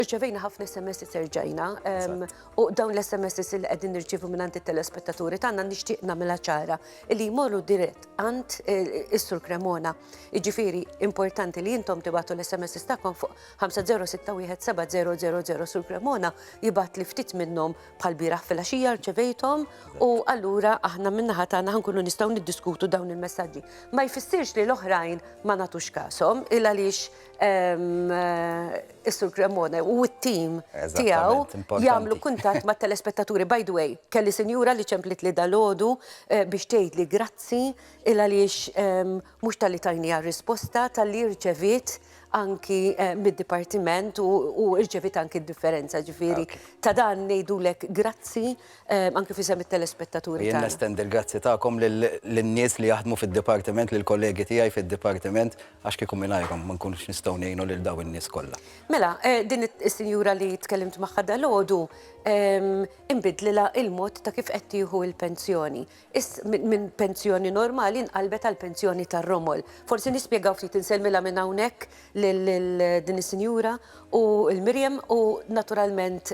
Irċevejna ħafna SMSs erġajna u dawn l-SMSs li qegħdin nirċievu minn għand it-telespettaturi tagħna nixtieq nagħmilha ċara li jmorru dirett għand eh, is-Sur Cremona. Jiġifieri importanti li intom tibatu l-SMSs tagħkom fuq 50617000 Sur Cremona jibgħat li ftit minnhom bħal bieraħ fil-għaxija rċevejthom u allura aħna min-naħa tagħna ħankunu nistgħu niddiskutu dawn il-messaġġi. Ma jfissirx li l-oħrajn ma nagħtux kasom il għaliex is-Sur Cremona u t-tim tiegħu jagħmlu kuntatt mat-telespettaturi. By the way, kelli sinjura li ċemplitli dalodu eh, biex tgħidli grazzi il għaliex ehm, mhux tal-li tajni risposta tal-li rċevit anki eh, mid-dipartiment u rċevit anki d-differenza ġifiri. Ta' dan ngħidulek grazzi ehm, anki fi sem it-telespettaturi. Jien nestend il-grazzi tagħkom lin-nies li jaħdmu fid-dipartiment, lill-kollegi tiegħi fid-dipartiment Għax kieku mingħajrhom ma nkunux nistgħu ngħinu lil dawn in-nies kollha. Mela, din is-sinjura li tkellimt magħha dalgħodu inbidlilha l-mod ta' kif qed tieħu l-pensjoni. Minn pensjoni normali nqalbet għal pensjoni tar-romol. Forsi nispjegaw ftit, insellmilha minn hawnhekk lil din is-sinjura u lil Miriam u naturalment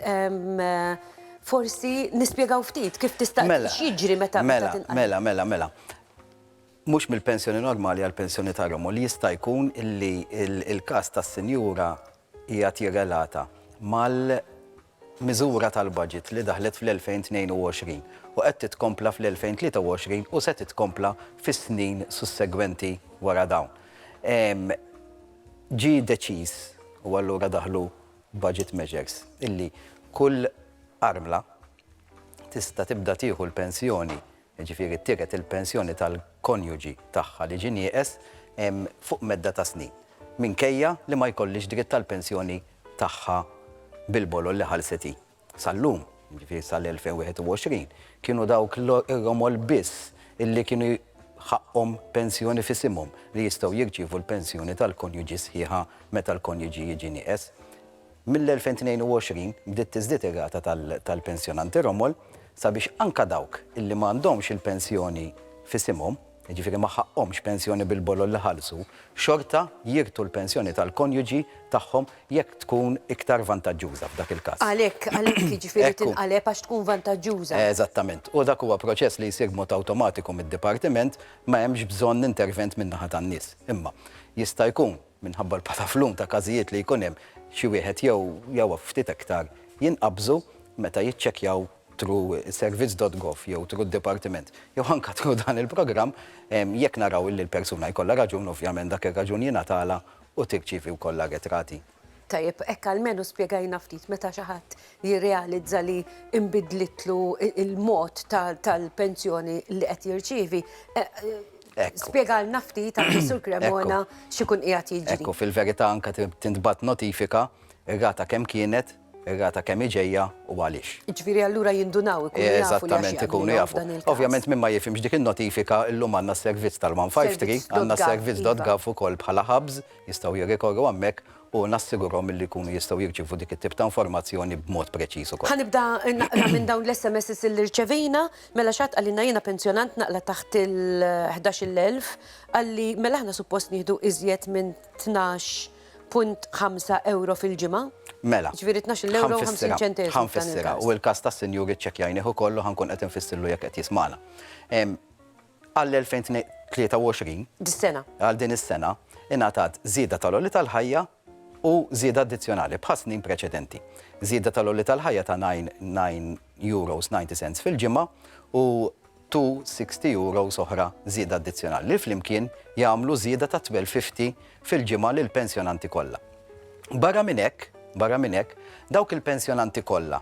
forsi nispjegaw ftit kif tista' x'jiġri meta tinqaleb. Mela, mela, mela, mela. mhux mill-pensjoni normali għal pensjoni ta' Roma u li jista' jkun li l-każ tas-sinjura qiegħed jirrelata mal-miżura tal-baġit li daħlet fl-2022 u qed titkompla fl-2023 u se titkompla fis-snin sussegwenti wara dawn. Ġie deċiż, u allura daħlu budget measures, illi kull armla tista' tibda tieħu l-pensjoni jiġifieri tiered il-pensjoni tal-konjuġi tagħha li ġie nieqes fuq medda ta' snin, minkejja li ma jkollhiex dritt għall-pensjoni tagħha bil-bolol li ħallset hi. Sal-lum, jiġifieri sal-2021, kienu dawk l-Omol biss li kienu ħaqqhom pensjoni f'isimhom li jistgħu jirċievu l-pensjoni tal-konjuġi sħiħa meta l-konjuġi jiġi nieqes. Mill-2022 bdiet tiżdied ir-rata tal-pensjonanti Romol sabiex anke dawk li ma għandhomx il-pensjoni f'isimhom, jiġifieri ma ħaqqhomx pensjoni bil-bolol li ħallsu, xorta jirtu l-pensjoni tal-konjuġi tagħhom jekk tkun iktar vantaġġuża f'dak il-każ. Għalhekk, għalhekk, jiġifieri tinqaleb għax tkun vantaġġuża. Eżattament. U dak huwa proċess li jsir b'mod awtomatiku mid-Dipartiment, ma hemmx bżonn intervent min-naħa tan-nies. Imma jista' jkun minħabba l-pataflum ta' każijiet li jkun hemm, xi wieħed jew jew ftit iktar jinqabżu meta jiċċekkjaw through servizz dot gov jew through d-dipartiment jew anke through dan il-programm jekk naraw illi l-persuna jkollha raġun ovvjament dak ir-raġun jingħatalha u tirċievi wkoll l-arretrati. Tajjeb, hekk almenu spjegajna ftit meta xi ħadd jirrealizza li nbidlitlu l-mod tal-pensjoni li qed jirċievi. Spjegalna ftit anke Sur Cremona x'ikun qiegħed jiġri. Ekku, fil-verità anke tintbagħat notifika r-rata kemm kienet, ir-rata kemm hi ġejja u għaliex. Jiġifieri allura jindunaw, ikunu jafu. Eżattament, ikunu jafu. Ovvjament min ma jifhimx dik in-notifika llum għandna s-servizz tal-153, għandna s-servizz dot gov ukoll bħala hubs, jistgħu jirrikorru hemmhekk u nassigurhom illi jkunu jistgħu jirċievu dik it-tip ta' informazzjoni b'mod preċiż ukoll. Ħa nibda naqra minn dawn l-SMSs illi rċevejna. Mela xi ħadd qalilna jiena pensjonant naqla' taħt il-ħdax-il elf, qalli mela aħna suppost nieħdu iżjed minn tnax punt ħamsa ewro fil-ġimgħa? Mela. Jiġifieri tnax-il ewro u ħamsin ċenteżmu. Ħa nfissirha, u l-każ tas-sinjur iċċekkjajnih ukoll u ħa nkun qed infissirlu jekk qed jismagħna. Għall-2023. Dis-sena. Għal din is-sena, ingħatat żieda tal-għoli tal-ħajja u żieda addizzjonali bħas-snin preċedenti. Żieda tal-għoli tal-ħajja ta' €9.90 fil-ġimgħa u €260 oħra żieda addizzjonali li flimkien jagħmlu żieda ta' €1,250 fil-ġimgħa lill-pensjonanti kollha. Barra minn hekk, barra minn hekk, dawk il-pensjonanti kollha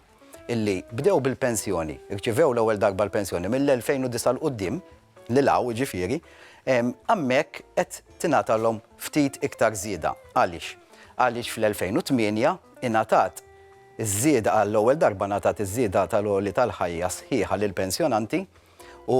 illi bdew bil-pensjoni, irċivew l-ewwel darba l-pensjoni mill-2009 'l quddiem, lil hawn jiġifieri, hemmhekk qed tingħatalhom ftit iktar żieda. Għaliex? Għaliex fl-2008 ingħatat iż-żieda, għall-ewwel darba ngħatat iż-żieda tal-għoli tal-ħajja sħiħa lill-pensjonanti u,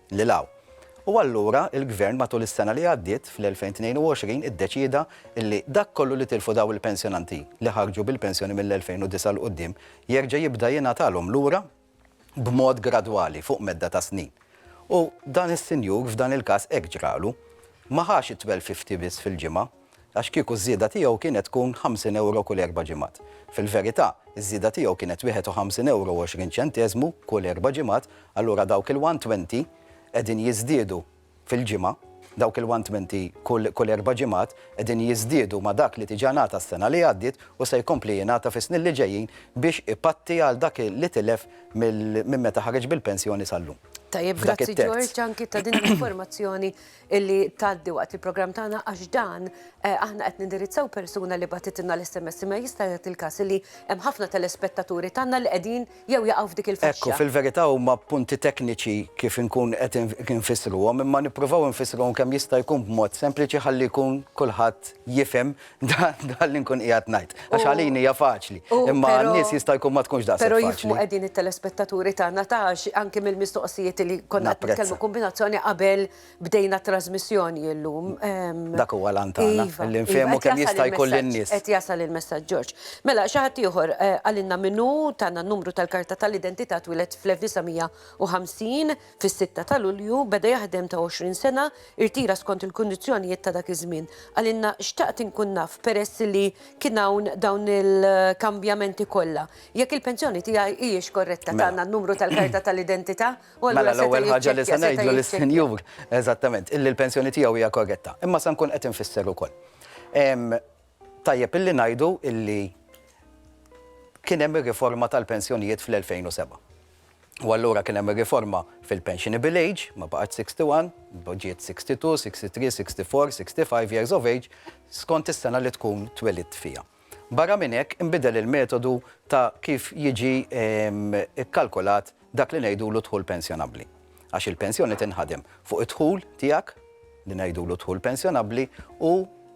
lil hawn. U allura il-Gvern matul is-sena li għaddiet, fl-2022, iddeċieda li dak kollu li tilfu dawn il-pensjonanti li ħarġu bil-pensjoni mill-2009 'l quddiem jerġa' jibda jingħatalhom lura b'mod gradwali fuq medda ta' snin. U dan is-sinjur f'dan il-każ hekk ġralu. Ma ħax it-twelv fifty biss fil-ġimgħa. Għax kieku ż-żieda tiegħu kienet tkun 50 ewro kull erba' ġimgħat. Fil-verità, iż-żieda tiegħu kienet 51 ewro u 20 ċenteżmu kull erba' ġimgħat, allura dawk il-120 qegħdin jiżdiedu fil-ġimgħa, dawk il-120 kull kull erba' ġimgħat qegħdin jiżdiedu ma' dak li diġà ngħata s-sena li għaddiet u se jkompli jingħata fis-snin li ġejjin biex ipatti għal dak li tilef minn meta ħareġ bil-pensjoni sal-lum. Tajjeb, grazzi George anki ta' din l-informazzjoni illi tgħaddi waqt il-programm tagħna għax dan aħna qed nindirizzaw persuna li bagħtitilna l-SMS imma jista' jagħti il-każ illi hemm ħafna telespettaturi tagħna li qegħdin jew jaqgħu f'dik il-faxxa. Ekku, fil-verità huma punti tekniċi kif inkun qed infissruhom imma nippruvaw infissruhom kemm jista' jkun b'mod sempliċi ħalli jkun kulħadd jifhem Dan li nkun qiegħed ngħid. Għax għalin hija faċli. Imma n-nies jista' jkun ma tkunx daqshekk. Però jifhmu qegħdin it-telespettaturi tagħna ta' għax anke mill-mistoqsijiet li konna qed nitkellmu kombinazzjoni qabel bdejna t-trasmissjoni illum. Dak huwa l-għan tagħna. Li nfehmu kemm jista' jkun lin-nies. Qed jasal il-messaġġ Ġorġ. Mela xi ħadd ieħor qalilna min hu, tana n-numru tal-karta tal-identità twieled fl-1950. Fis-sitta ta' Lulju beda jaħdem ta' 20 sena, irtira skont il-kundizzjonijiet ta' dak iż-żmien. Qalilna, Xtaqt inkun naf, peress li kien hawn dawn il-kambjamenti kollha, jekk il-pensjoni tiegħi hijiex korretta. Tana n-numru tal-karta tal-identità u allura seta' jiċċekkja. Mela l-ewwel ħaġa li se ngħidlu lis-sinjur, eżattament, illi l-pensjoni tiegħu hija korretta. Imma se nkun qed infisser ukoll. Tajjeb illi ngħidu illi kien hemm ir-riforma tal-pensjonijiet fl-2007. u allura kien hemm ir-riforma fil-pensionable age, ma baqgħetx 61, ġiet 62, 63, 64, 65 years of age, skont is-sena li tkun twelidt fiha. Barra minn hekk, inbidel il-metodu ta' kif jiġi kkalkulat dak li ngħidulu dħul pensjonabbli. għax il-pensjoni tinħadem fuq id-dħul tiegħek, li ngħidulu d-dħul pensjonabbli, u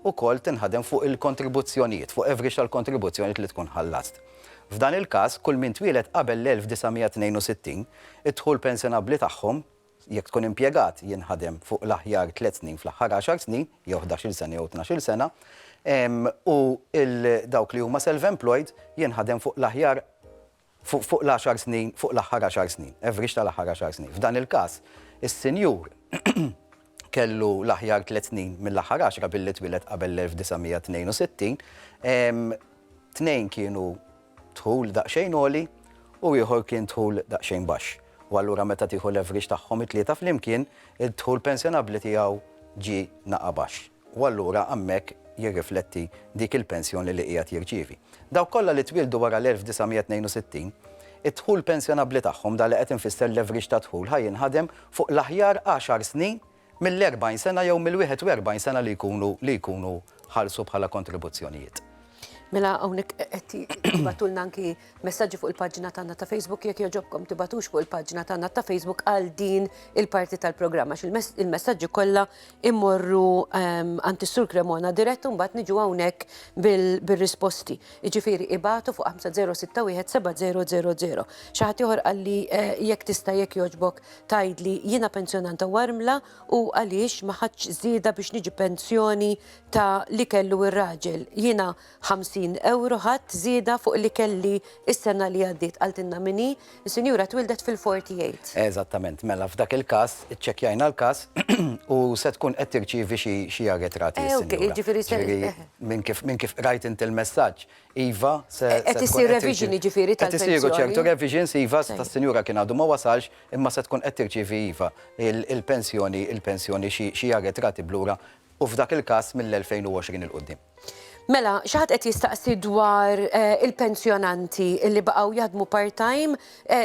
wkoll tinħadem fuq il-kontribuzzjonijiet, fuq average tal-kontribuzzjonijiet li tkun ħallast. F'dan il-każ, kull min twieled qabel l-1962, id-dħul pensjonabbli tagħhom, jekk tkun impjegat, jinħadem fuq l-aħjar tliet snin fl-aħħar għaxar snin, jew ħdax-il sena jew tnax-il sena, u dawk li huma self-employed jinħadem fuq l-aħjar fuq l-għaxar snin, fuq l-aħħar għaxar snin, average tal-aħħar għaxar snin. F'dan il-każ, is-sinjur kellu l-aħjar tliet snin mill-aħħar għaxra billi twieled qabel l-1962, tnejn kienu dħul daqsxejn għoli u ieħor kien dħul daqsxejn baxx. U allura meta tieħu l-average tagħhom it-tlieta flimkien, id-dħul pensjonabbli tiegħu ġie naqa' baxx. u allura hemmhekk jirrifletti dik il-pensjoni li qiegħed jirċievi. Dawk kollha li twieldu wara l-1962, id-dħul pensjonabbli tagħhom, dan li qed infisser l-average ta' dħul, ħa jinħadem fuq l-aħjar għaxar snin mill-40 sena jew mill-41 sena li jkunu li jkunu ħallsu bħala kontribuzzjonijiet. Mela hawnhekk qed tibatulna anki messaġġi fuq il-paġna tagħna ta' Facebook jekk joġobkom tibatux fuq il-paġna tagħna ta' Facebook għal din il-parti tal-programm għax il-messaġġi kollha immorru ehm, għand is-Sur Cremona dirett u mbagħad niġu hawnhekk bil-risposti. Jiġifieri ibatu fuq 50617000. Xi ħadd ieħor qalli eh, jekk tista' jekk joġbok tgħidli jiena pensjonanta warmla u għaliex ma ħadtx żieda biex niġi pensjoni ta' li kellu ir-raġel. Jiena 50 ewro ħadt żieda fuq li kelli s-sena li għaddiet, qaltilna min hi, is-sinjura twildet fil-48. Eżattament, mela f'dak il-każ iċċekkjajna l-każ u se tkun qed tirċievi xi arretrati s-sinjura. Ġifieri se. Minn kif qrajt int il-messaġġ, Iva, se. Qed issir revision jiġifieri tal-pensjoni? Qed isiru ċertu revisions, iva, tas-sinjura kien għadu ma wasalx, imma se tkun qed tirċievi iva l-pensjoni, il-pensjoni xi arretrati b'lura u f'dak il-każ mill-2020 'il quddiem. Mela, xi ħadd qed jistaqsi dwar il-pensjonanti li baqgħu jaħdmu part-time,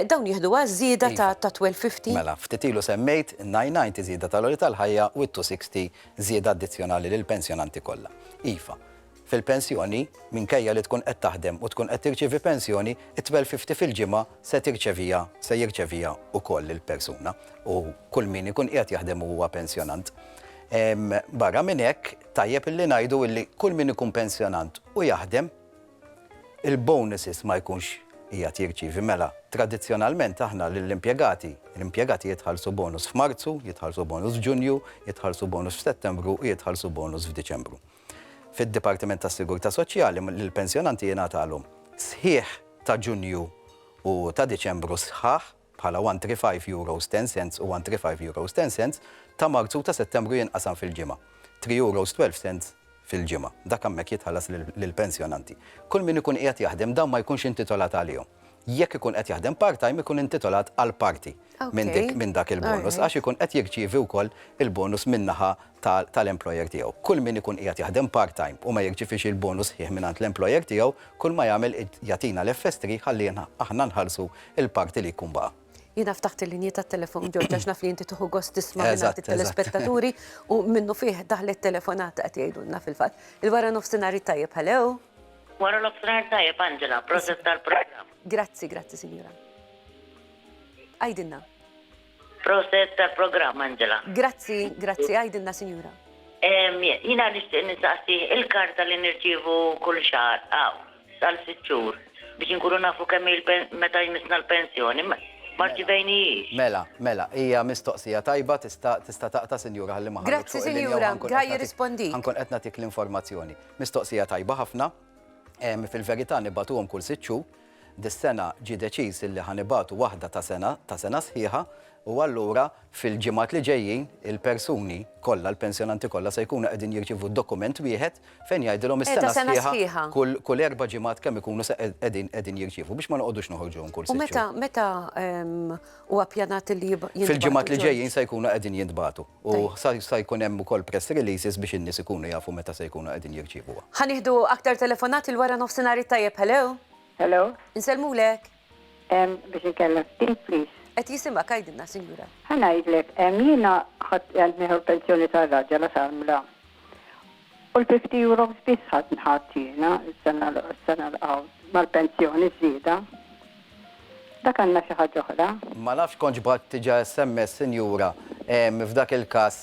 dawn jieħdu għaż-żieda ta' 1250? Mela, ftit ilu semmejt in-990 żieda tal-għoli tal-ħajja u t-260 żieda addizzjonali lill-pensjonanti kollha. Iva, fil-pensjoni, minkejja li tkun qed taħdem u tkun qed tirċievi pensjoni, it-twelve fifty fil-ġimgħa se tirċeviha, se jirċeviha wkoll il-persuna u kull min ikun qiegħed jaħdem u huwa pensjonant. Barra minn hekk, tajjeb illi ngħidu illi kull min ikun pensjonant u jaħdem, il-bonuses ma jkunx qiegħed jirċievi. Mela, tradizzjonalment aħna lill-impjegati, l-impjegati jitħallsu bonus f'Marzu, jitħallsu bonus f'Ġunju, jitħallsu bonus f'Settembru u jitħallsu bonus f'Diċembru. fid-Dipartiment tas-Sigurtà Soċjali li l-pensjonanti jingħatalhom sħiħ ta' Ġunju u ta' Diċembru sħaħ bħala €135 10 u €135 10 ta' Marzu u ta' Settembru jinqasam fil-ġimgħa, €3 12 fil-ġimgħa. Dak hemmhekk jitħallas lill-pensjonanti. Kull min ikun qiegħed jaħdem dawn ma jkunx intitolat għalihom. jekk ikun qed jaħdem part-time ikun intitolat għal parti minn dak il-bonus għax ikun qed jirċievi wkoll il-bonus min-naħa tal-employer tiegħu. Kull min ikun qiegħed jaħdem part-time u ma jirċievix il-bonus sħiħ mingħand l-employer tiegħu, kull ma jagħmel jagħtina l-FS3 ħalli aħna nħallsu l-parti li jkun baqa'. Jiena ftaħt il-linji tat-telefon George għax naf li inti tieħu gost tisma' mingħand it-telespettaturi u minnufih daħlet telefonata qed jgħidulna fil-fatt. Il-wara nofsinhar it-tajjeb, hello? Wara nofsinhar tajjeb Angela, proset tal-programm. Grazzi, grazzi sinjura. Għajdilna. Proset tal-programm Angela. Grazzi, grazzi, għajdilna sinjura. Jina nixtieq nistaqsi il-karta li nirċievu kull xahar għaw għal sitt xhur biex inkunu nafu kemm meta jmissna l-pensjoni ma rċivejnijiex. Mela, mela, hija mistoqsija tajba tista' taqta' sinjura ħalli ma ħallux fuq il-linja u ħankun qed nagħtik l-informazzjoni. Mistoqsija tajba ħafna. Fil-verità nibagħtuhom kull sitt xhur. Dis-sena ġie deċiż illi ħa nibagħtu waħda ta' sena, ta' sena sħiħa, u allura fil-ġimgħat li ġejjin il-persuni kollha, l-pensjonanti kollha se jkunu qegħdin jirċievu dokument wieħed fejn jgħidilhom is-sena sħiħa kull erba' ġimgħat kemm ikunu se qegħdin jirċievu biex ma noqogħdux noħorġuhom kull sitt xhur. U meta, meta, Huwa ppjanat li jintbagħtu. Fil-ġimgħat li ġejjin se jkunu qegħdin jintbagħtu u se jkun hemm ukoll press releases biex in-nies ikunu jafu meta se jkunu qegħdin jirċievuha. Ħa nieħdu aktar telefonati l-wara nofsinhar it-tajjeb, hello? Hello? Insellmulek. Biex inkellem ftit, please. Qed jisimgħek għidilna, sinjura. Ħa ngħidlek, jiena ħadt qed nieħu l-pensjoni tar-raġel għax għamla. U l-fifty euros biss ħadt jiena s-sena l għawd mal-pensjoni ż-żieda. Dak għandna xi ħaġa oħra. Ma nafx kontx bgħatt diġa sms sinjura ehm f'dak il-każ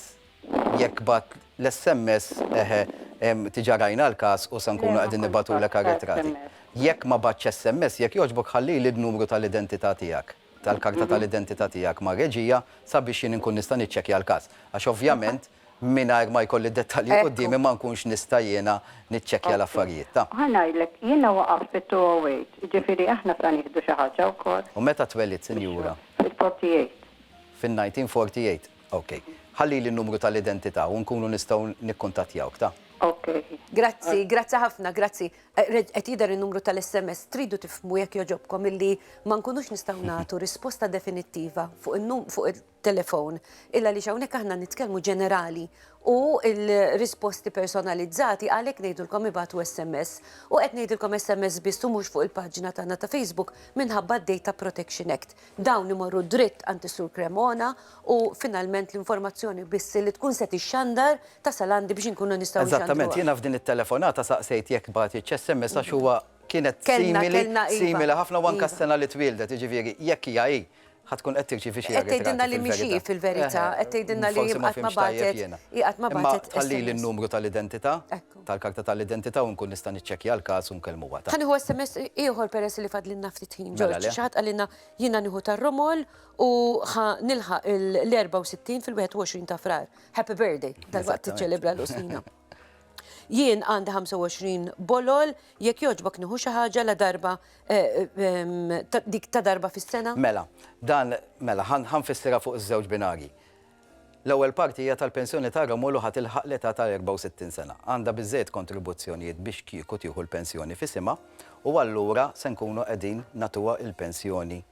jekk bgħatt l-sms eħe ehm diġa rajna l-każ u se nkunu qegħdin nibgħatulek għar-ritratti. Jekk ma bgħattx sms jekk jogħġbok ħallili d-numru tal-identità tiegħek tal-karta tal-identità tiegħek mar-reġija sabiex jien inkun nista' niċċekkja l-każ għax ovvjament mingħajr ma jkolli d-dettalji quddiemi ma nkunx nista' jiena niċċekkja l-affarijiet. Ta. Ħa ngħidlek, jiena waqaft fit-208, jiġifieri aħna sa nieħdu xi ħaġa wkoll. U meta twellidt, sinjura? Fil-forty eight. Fin-nineteen forty eight. Ok. Ħallili n-numru tal-identità u nkunu nistgħu nikkuntattjawk. Ta. Ok. Grazzi, grazzi ħafna, grazzi. Qed jidher in-numru tal-SMS. Tridu tifhmu jekk jogħġobkom illi ma nkunux nistgħu nagħtu risposta definittiva fuq fuq telefon, illa għaliex hawnhekk aħna nitkellmu ġenerali u l-risposti personalizzati għalhekk ngħidulkom ibagħtu SMS. U qed ngħidilkom SMS biss u mhux fuq il-paġna tagħna ta' Facebook minħabba d-Data Protection Act. Dawn imorru dritt għand is-Sur Cremona u finalment l-informazzjoni biss li tkun se tixxandar tasal għandi biex inkunu nistgħu nxandruha. Eżattament, jiena f'din it-telefonata saqsejt jekk bagħtitx SMS għax huwa kienet simili, simili ħafna u anke s-sena li twieldet, jiġifieri jekk hija hi. Ħa tkun qed tirċievi xi Qed tgħidilna li mhix hi fil-verità, qed tgħidilna li hi qatt ma bagħtet. Hi qatt ma bagħtet. Ħallili n-numru tal-identità, tal-karta tal-identità u nkun nista' niċċekkja l-każ u nkellmuha. Ħa nieħu SMS ieħor peress li fadlilna ftit ħin. Ġorġ, xi ħadd qalilna jiena nieħu tar-Romol u ħa nilħaq l-64 fil-21 ta' Frar. Happy birthday, dalwaqt tiċċelebra l-Qustina. Jien għandi 25 bolol, jekk jogħġbok nieħu xi ħaġa la darba dik ta' darba fis-sena? Mela, dan mela ħa nfissirha fuq iż-żewġ binarji. L-ewwel parti hija tal-pensjoni ta' Romul u ħa tilħaq l-età ta' 64 sena. Għandha biżżejjed kontribuzzjonijiet biex kieku tieħu l-pensjoni f'isimha u allura se nkunu qegħdin nagħtuha l-pensjoni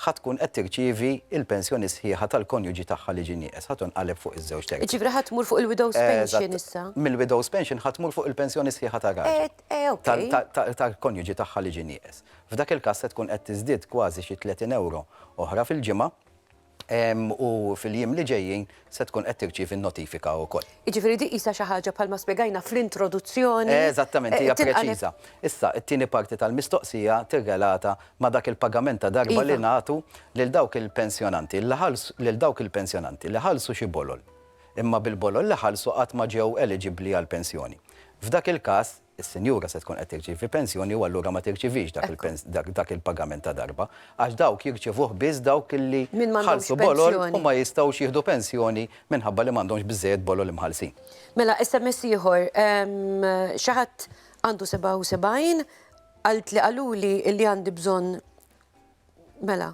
ħa tkun qed tirċievi l-pensjoni sħiħa tal-konjuġi tagħha li ġie nieqes, ħa tinqaleb fuq iż-żewġ terzi. Jiġifieri ħa tmur fuq il-widow's pension issa? Eżatt, mill-widow's pension ħa tmur fuq il-pensjoni sħiħa tar-raġel, tal-konjuġi tagħha li ġie nieqes. F'dak il-każ se tkun qed tiżdied kważi xi 30 ewro oħra fil-ġimgħa u fil-jiem li ġejjin se tkun qed tirċievi n-notifika wkoll. Jiġifieri din qisha xi ħaġa bħalma spjegajna fl-introduzzjoni. Eżattament, hija preċiża. Issa, it-tieni parti tal-mistoqsija tirrelata ma' dak il-pagament ta' darba li nagħtu lil dawk il-pensjonanti li ħallsu lil dawk il-pensjonanti li ħallsu xi bolol, imma bil-bolol li ħallsu qatt ma ġew eliġibbli għall-pensjoni. F'dak il-każ, is-sinjura se tkun qed tirċievi pensjoni u allura ma tirċievix dak il-pagament ta' darba, għax dawk jirċievuh biss dawk li ħallsu bolol u ma jistgħux jieħdu pensjoni minħabba li m'għandhomx biżżejjed bolol imħallsin. Mela, SMS ieħor, xi ħadd għandu 77, qaltli qaluli li għandi bżonn, mela.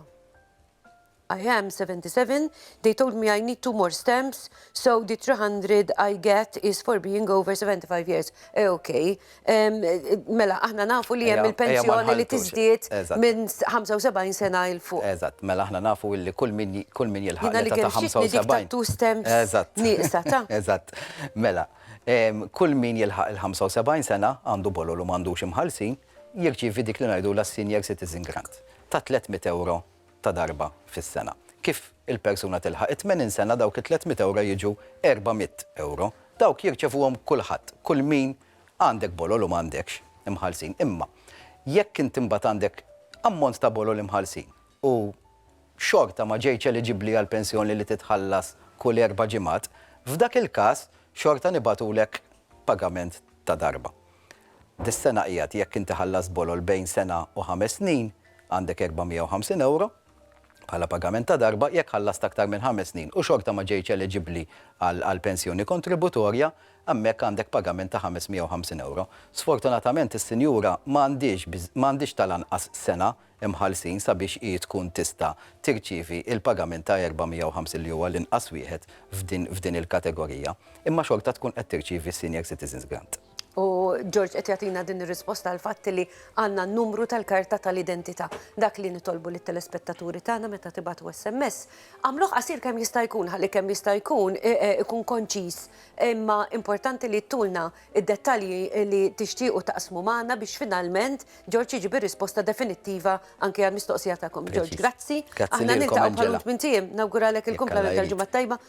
I am 77, they told me I need two more stamps, so the 300 I get is for being over 75 years. Eh, ok. Em, Mela, aħna nafu li hemm Ejja- ejja ma il-pensjoni li nħalltux. tiżdied Eżatt. minn 75 sena il fuq. Eżatt, mela aħna nafu illi kull min ji- kull min jilħaq Jiena li l-età ta' kemm xtieqni dik 75. ta' two stamps Eżatt. nieqsa, ta. Eżatt. Mela, em, kull min jilħaq il-75 sena għandu bolol u m'għandux imħallsin, jirċievi dik li ngħidulha s-senior citizen grant. ta' 300 ewro ta' darba fis-sena. Kif il-persuna tilħaq it-tmenin sena dawk it-300 ewro jiġu 400 ewro. Dawk jirċevuhom kulħadd, kull min, għandek bolol u m'għandekx, imħallsin. Imma jekk int imbagħad għandek ammont ta' bolol imħallsin u xorta ma ġejtx eliġibbli għall-pensjoni li titħallas kull erba' ġimgħat, f'dak il-każ xorta nibagħtulek pagament ta' darba. Dis-sena qiegħed jekk inti ħallast bolol bejn sena u ħames snin għandek 450 ewro bħala pagament ta' darba, jekk ħallast aktar minn ħames snin u xorta ma ġejtx eleġibbli għal pensjoni kontributorja, hemmhekk għandek pagament ta' 550 ewro. Sfortunatament is-sinjura ma għandhiex ma għandhiex tal-anqas sena mħallsin sabiex hi tkun tista' tirċievi l-pagament ta' 450 li huwa l-inqas wieħed f'din f'din il-kategorija, imma xorta tkun qed tirċievi s-Senior Citizens Grant. U George qed jagħtina din ir-risposta għal fatt li għandna n-numru tal-karta tal-identità. Dak li nitolbu lit-telespettaturi tagħna meta tibatu SMS, għamluh qasir kemm jista' jkun ħalli kemm jista' jkun e, e, ikun konċiż. Imma importanti li tulna id-dettalji li tixtiequ taqsmu magħna biex finalment George jiġi risposta definittiva anke għall-mistoqsija tagħkom. George, grazzi. Aħna niltaqgħu bħal minn tiem, nawguralek il-kumplament tal-ġimgħa tajba,